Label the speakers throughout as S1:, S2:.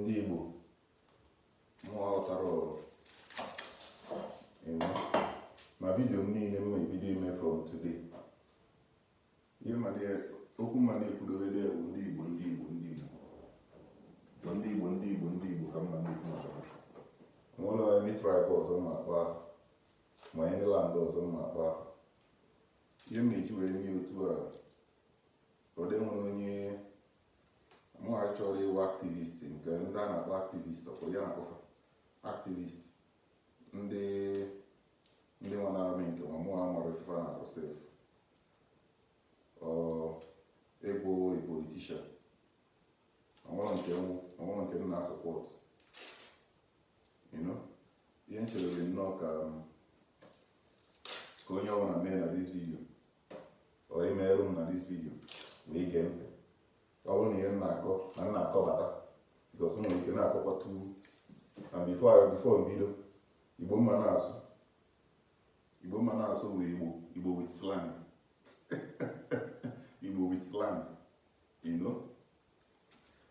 S1: ndị Igbo mụọ ghọtara ma video m niile m na-ebido ime from today okwu ma na-ekwudorede bụ ndị Igbo ndị Igbo ndị Igbo so ndị Igbo ndị Igbo ndị Igbo ka m na-ekwu maka ha nwere onye tribe ọzọ ma akpa afa ma ndị land ọzọ ma akpa afa ihe m na-eji wee nye otu a ọ dị nwere onye mụ achọrọ ịwụ activist nke ndị a na-akpọ activist ọkwa ya na-akpọ fa activist ndị ndị nwa na-amị nke ma mụ amara ife fa na-arụ sef ịbụ politician o nwerọ nke nwụ o nwerọ nke m na-asọpọt ihe m chere nnọọ ka um, ka onye ọbụla mee na this video chọrọ imeru m na this video wee gee ntị ọ bụrụ na ihe na-akọ na m na-akọbata because nwere ike na-akọkwa tu na before before m bido Igbo m na-asụ Igbo m na-asụ bụ Igbo Igbo with slang igbo with slang you know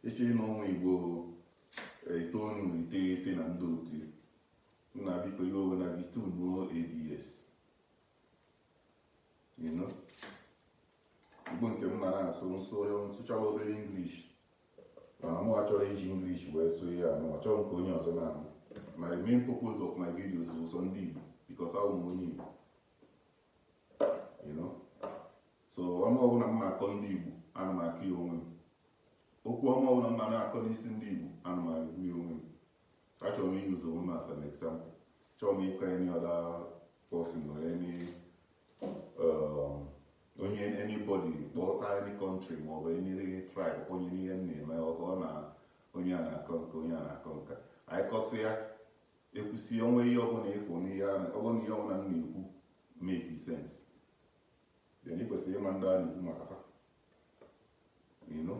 S1: eche na ọ wụ Igbo itoolu na iteghete na ndị otu nna biko iwe ewena gị tunuo ABS Igbo nke m mara asụ nsụ nsụchawa obere English mana mụ achọrọ iji English wee sụọ ya anụ achọrọ m ka onye ọzọ na-anụ my main purpose of my videos bụ sọ ndị Igbo because awụ m onye Igbo so ọnụ ọbụla m na-akọ ndị Igbo ana m akọ ya onwe m okwu ọma ọbụla m na-akọ n'isi ndị Igbo ana m ekwu ya onwe m Achọrọ m ị use onwe m as an example. Chọrọ m ịkọ any other person or any um, onye anybody kpọta any country ma ọ bụ any tribe onye n'ihe m na-eme ọhụ ọ na onye a na-akọ nke onye a na-akọ nka anyị kọsị ya ekwusi o nwee ihe ọbụla ị fụ n'ihe ọbụla ihe ọbụla m na-ekwu make sense then ị kwesịrị ịma ndị a na-ekwu maka fa you know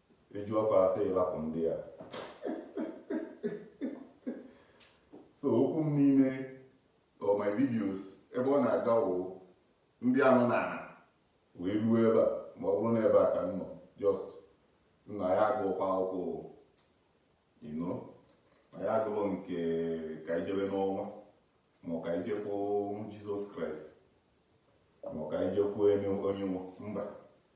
S1: eju afọ asị ịlapụ ndị a so okwu m niile or my videos ebe ọ na-aga wụ ndị a nọ n'ana wee ruo ebe a ma ọ bụrụ na ebe a ka m nọ just nna ya agụkwa akwụkwọ you know na ya agụlọ nke ka i jebe n'ọnwa ma ka i je fụ Jesus Christ ma ka i je fụ onye nwa mba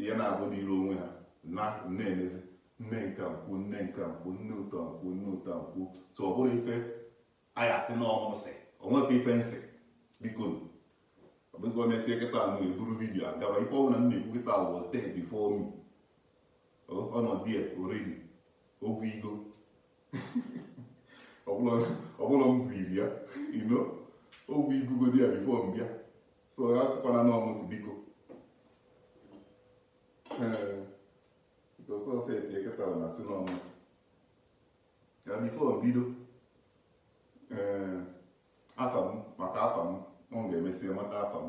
S1: ihe na-abụ n'iru onwe ha na na-emezi nne nke nkwu nne nke nkwu nne ụtọ nkwu nne ụtọ nkwu so ọ bụrụ ife anyị asị na ọ mụ sị o nwekwa ife m sị biko ọ bụghị emesie kịta ụnụ eburu video agaba ife ọbụla m na-ekwu kịta was there before me ọ nọdụ ya already okwu Igbo ọbụla m kwuru ya you know okwu ekwugodi ya before m bịa so ya sịkwala na ọ mụ sị biko ọsọsọ etie kịta na asị na ọ mụ sị ya before m bido ee afa m maka afa m ọ ga-emesi mata afa m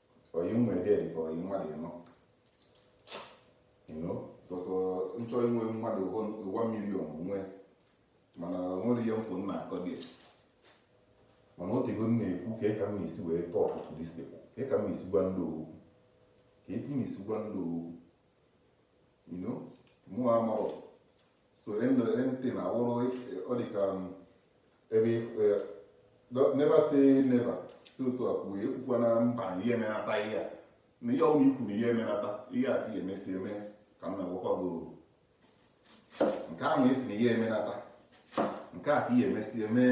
S1: oyi mma ede dị ka oyi mmadụ you know because m chọ inwe mmadụ one million nwe mana nwere ihe m fụ m na-akọ dị mana otego m na-ekwu ka ka m na-esi wee talk to these people ka ka m na-esi gwa ndị okwu ka etu m na-esi gwa ndị okwu you know mụ amarọ so anything awụrụ ọ dị ka ebe never say never si otu a kwuo ekwukwana mba na ị ya-emenata ihe a na ihe ọbụla i kwu na ị ya-emenata ihe a ị ya-emesi eme ka m na-agwakwa gị nke ahụ ị sị na ị ya-emenata nke a ka ị ya-emesi eme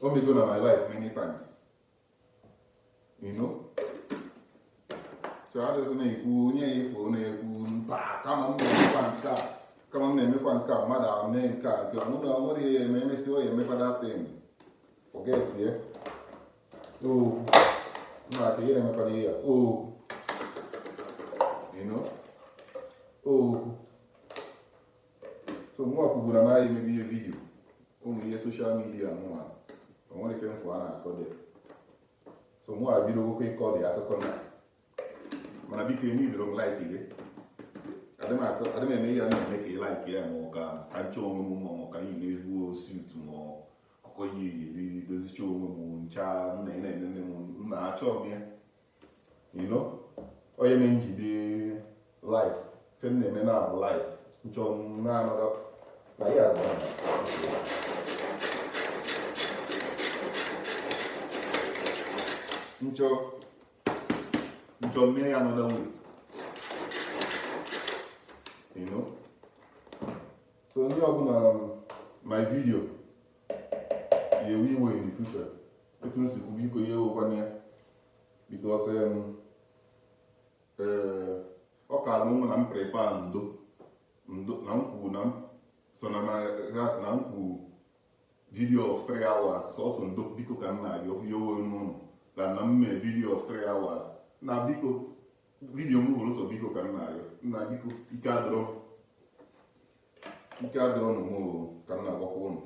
S1: o mego na my life many times you know so adịghị m ekwu onye ị fụ na-ekwu mba ama m na-emekwa nke a ama m na-emekwa nke a mmadụ ahụ mee nke a nke mụ na nwere ya eme emesi ọ ya-emekwa that thing forget ya oo mba ka ihe na-emekwa ihe ya oo you know oo so mụ ekwuburu na anyị emebi ihe video ụmụ ihe social media mụnwa o nwere ife m fụ a na-akọde so mụ ebidokwu ịkọ dị akụkọ na mana biko eme idoro m like gị adị m eme ihe a na-eme ka ị like ya ma ọ ka ka m chọ onwe m ma ọ ka iyi ezigbo suit ma ọ ka iyi eri dozicha onwe m ncha na ị na-enene m na achọọ m ya you know onye na m ji ebi life ife m na-eme na life m chọ na-anọga na ya agwa m chọ m chọ mee ya another way you know so onye ọbụla um, my video ya ewe iwe in the future etu m si kwu biko ya ewekwana ya because um, eh, ọ ka alụ mụ na m prepare ndo ndo na m kwuru na m so na ma ha si na m kwuru video of 3 hours sọsọ ndo biko ka m na-ayọ ya owe n'ụlọ na na m mee video of 3 hours na biko video m wụrụ sọ biko ka m na-ayọ nna biko ike adịrọ m ike adịrọ nụ mụ ka m na-agwakwa ụnụ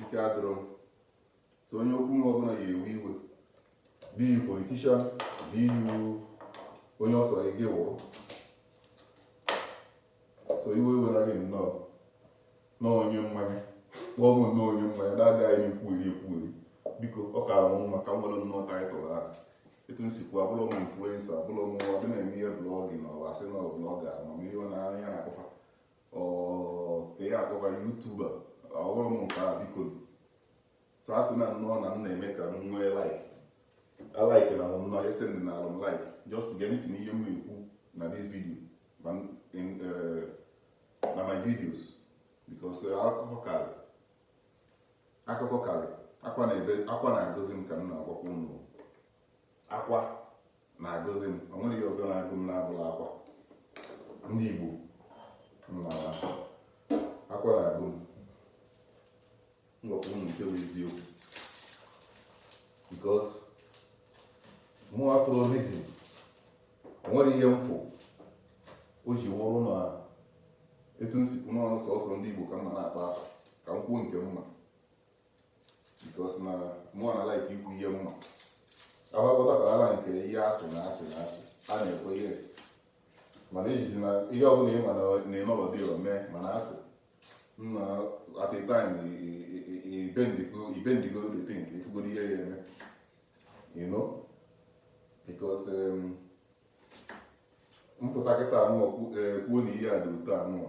S1: ike adịrọ m so onye okwu m ọbụla ya ewe iwe be you politician be you onye ọ sọ gị wụrụ so iwe ewena gị nnọọ na onye mmanya kpọọ m nnọọ onye mmanya na-agaghị m ekwugheri ekwugheri biko ọ kaara m mma ka m nwere nnọọ title ahụ etu m si kwuo abụrọ m influencer abụrọ m ndị na-eme ihe blog na ọwa sị na blogger amamihe na anya na-akpọ fa ka ya akpọ fa YouTuber awụrọ m nke a biko so a sị na nnọọ na m na-eme ka m nwee like like na m nnọọ ese m na alụm like just gee ntị n'ihe m na-ekwu na this video eh, na my videos because eh, akụkọ karị akụkọ karị akwa na-agụzi m ka m na-agwakwa unu akwa na-agụzi m o nwerọ ihe ọzọ na-agụ m na-abụrọ akwa ndị Igbo mmawa akwa na-agụ m m gwakwa unu nke bụ eziokwu because mụ afụrọ reason o nwerọ ihe m fụ o ji wụrụ na etu m si kwu n'ọnụ sọsọ ndị Igbo ka m na-akpa afa ka m kwuo nke mma because na mụọ na like ikwu ihe mma agbakọta ka ala nke ihe asị na asị na asị a na-ekwu yes mana ejizi na ihe ọbụla ị ma na ịnọlọdụ ya mee mana asị nna at a time ibendigo the thing ka ifugoro ihe ya eme you know because um, m pụta kịta anụ kwuo na ihe a dị otu anụ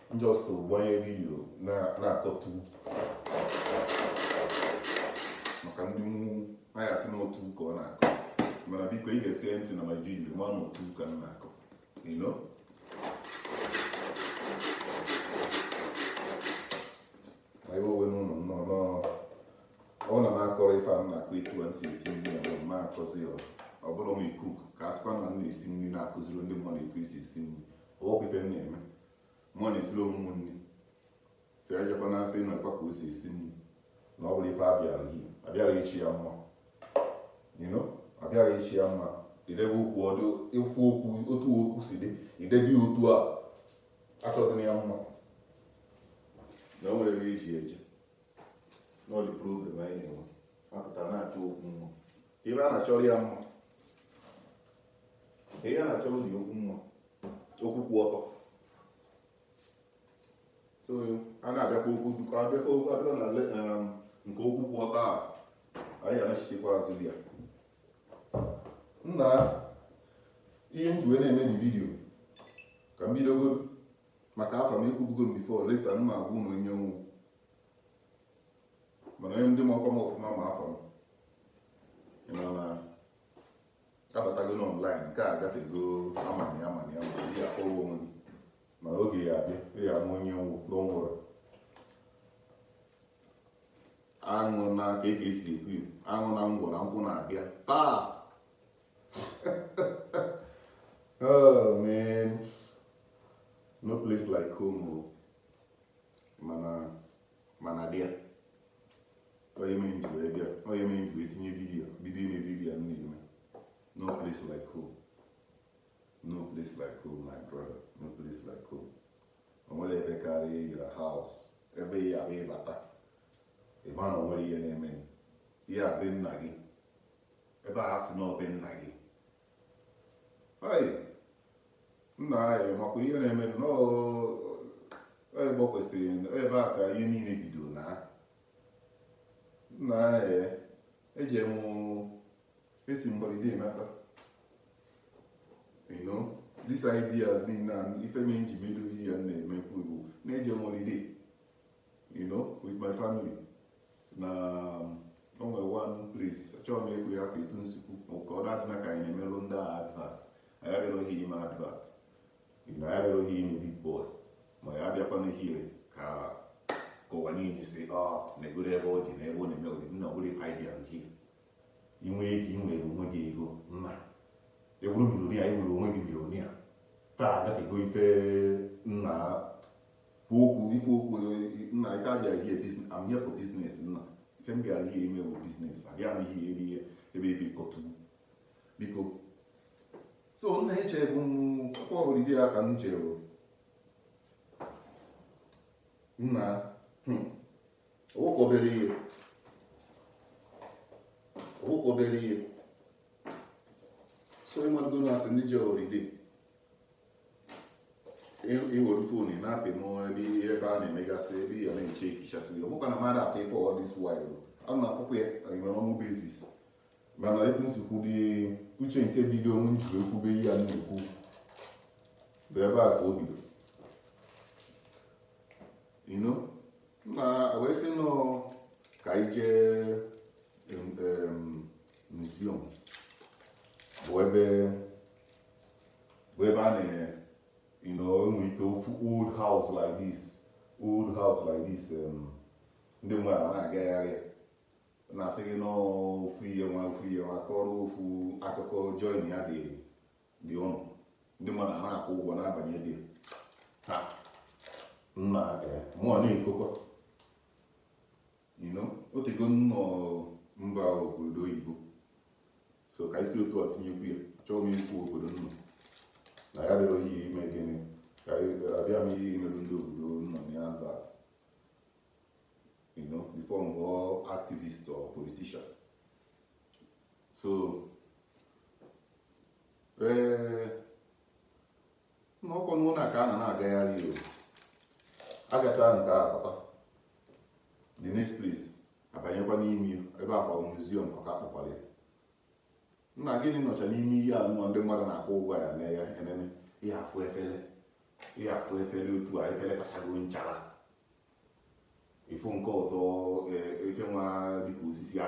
S1: just to gbanye video na-akọtu maka ndị naghị asị n'otu ka ọ na-akọ mana biko i gesie ntị na my video ma n'otu ka m na-akọ you know anyị owe n'ụlọ nnọọ nọọ ọ na m akọrọ ife a m na-akọ etu e si esi nri na m akọzi ya ọzọ abụrọ m cook ka a sịkwa na m na-esi nri na-akụziri ndị mmadụ etu e si esi nri ọ bụ ife m na-eme mụ na-esiri onwe m nri si ejekwa na sị nekwa ka o si esi nri na ọ bụrọ ife a bịara gị abịarọ ịchọ ya mma you know abịarọ ịchọ ya mma idebe okwu ọdụ ịfụ okwu otu okwu si dị idebe ya otu a achọzina ya mma na o nwere ebe e ji eje n'ọdị problem anyị na-enwe apụta na-achọ okwu mma ebe a na-achọrọ ya mma ihe a na-achọrọ dị okwu mma okwu kwụ ọtọ so a na-abịakwa okwu dukọ abịakwa okwu abịa na le- um, nke okwu kwụ ọtọ a anyị anachitekwa azụ ya nna ihe m ji wee na-eme na video ka m bidogo maka afa m ekwubugo m before later m ma agwa unu onye m wụ mana onye ndị makwa m ọfụma ma afa m ị ma na abatago online nke a gafego amana ya mana ya mana ya akpọrọ onwe gị mana oge ya abịa ị ya ama onye n'ọnwụrụ aṅụ na ka e si ekwu ya aṅụ na ngwọ na nkwụ na-abịa taa oh man no place like home oh. mana mana dị ya ihe mere m ji wee bịa ihe mere m ji wee tinye video bido ime video m na-eme no place like home no place like home my brother no place like home o nwere ebe karịa your house ebe ị ya-abụ ị bata ị ma na o nwere ihe na-eme ya be nna gị ebe a sị na ọ be nna gị nna anyị makwa ihe na-eme ya because ebe a ka ihe niile bido na nna anyị eji m esi m holiday nata you know this ideas niile ife me m ji bido video na-emekwu wụ na eje m holiday you know with my family na um, o nwere one place achọrọ m ịkpọ ya afa etu m si kwuo ka ọ na-adịna ka anyị na-emelụ ndị a advert anyị abịaghị ime advert anyị abịaghị ime big boy ma ya abịakwana here ka ka ụwa niile sị ọ ah, negodu ebe ọ dị na ebe ọ na-eme oriri na ọ bụrọ ife anyị bịara here i nwe ike inwere onwe gị ego nna ị wụrụ millionaire inwere onwe gị millionaire taa agafego ife nna kwuo okwu ikwu okwu nna ife a bịara here business I'm here for business nna ife m bịara here ime bụ business abịa m here iri ihe ebe ebe ịkọtu biko so nna echebukwa ọ holiday ka m jere nna ọwụkọ hmm, obere ihe ọwụkọ obere ihe so ịmago na a sị ndị je holiday iwere fon na-apị n'ebe ihe ebe a na-emegasị ebe ihe na-eche ekichasị ya ọbụkwa na mmadụ atọ ife all this while a na-afụkwa ya nwere ọnwụ basis mana etu m si kwudị uche nke bido onwe m jiri ekwube ihe a na-ekwu bụ ebe a ka o bido you know na wee sị nọ ka anyị jee museum bụ ebe bụ ebe a na you know enwere ike ofu old house like this old house like this um, ndị mmadụ na-agagharị na-asị gị n'ofu ihe nwa ofu ihe nwa kọrọ ofu akụkọ join ya dị dị ụnụ ndị mmadụ na-akwụ ụgwọ na-abanye there nna mụọ na-ekokwa you know o tego nnọọ m ba obodo oyibo so ka isi otu a tinyekwu ya achọghị m ikwu obodo m nọ na ya dịrọ ihe ime gịnị ka abịa m ihe imerụ ndị obodo m nọ na ya advert you know before m ghọọ activist or politician so ee nnukwu ụlọ ka a na na-agagharị o agachaa nke a papa the next place abanyekwa n'ime ebe akwa museum maka akpọkwara ya nna gịnị nọcha n'ime ihe a nụọ ndị mmadụ na-akwụ ụgwọ ya na-aya enene ị ya-afụ efere ị ya-afụ efere otu a efere kachago nchara ị fụ nke ọzọ e, ife nwa dịka osisi a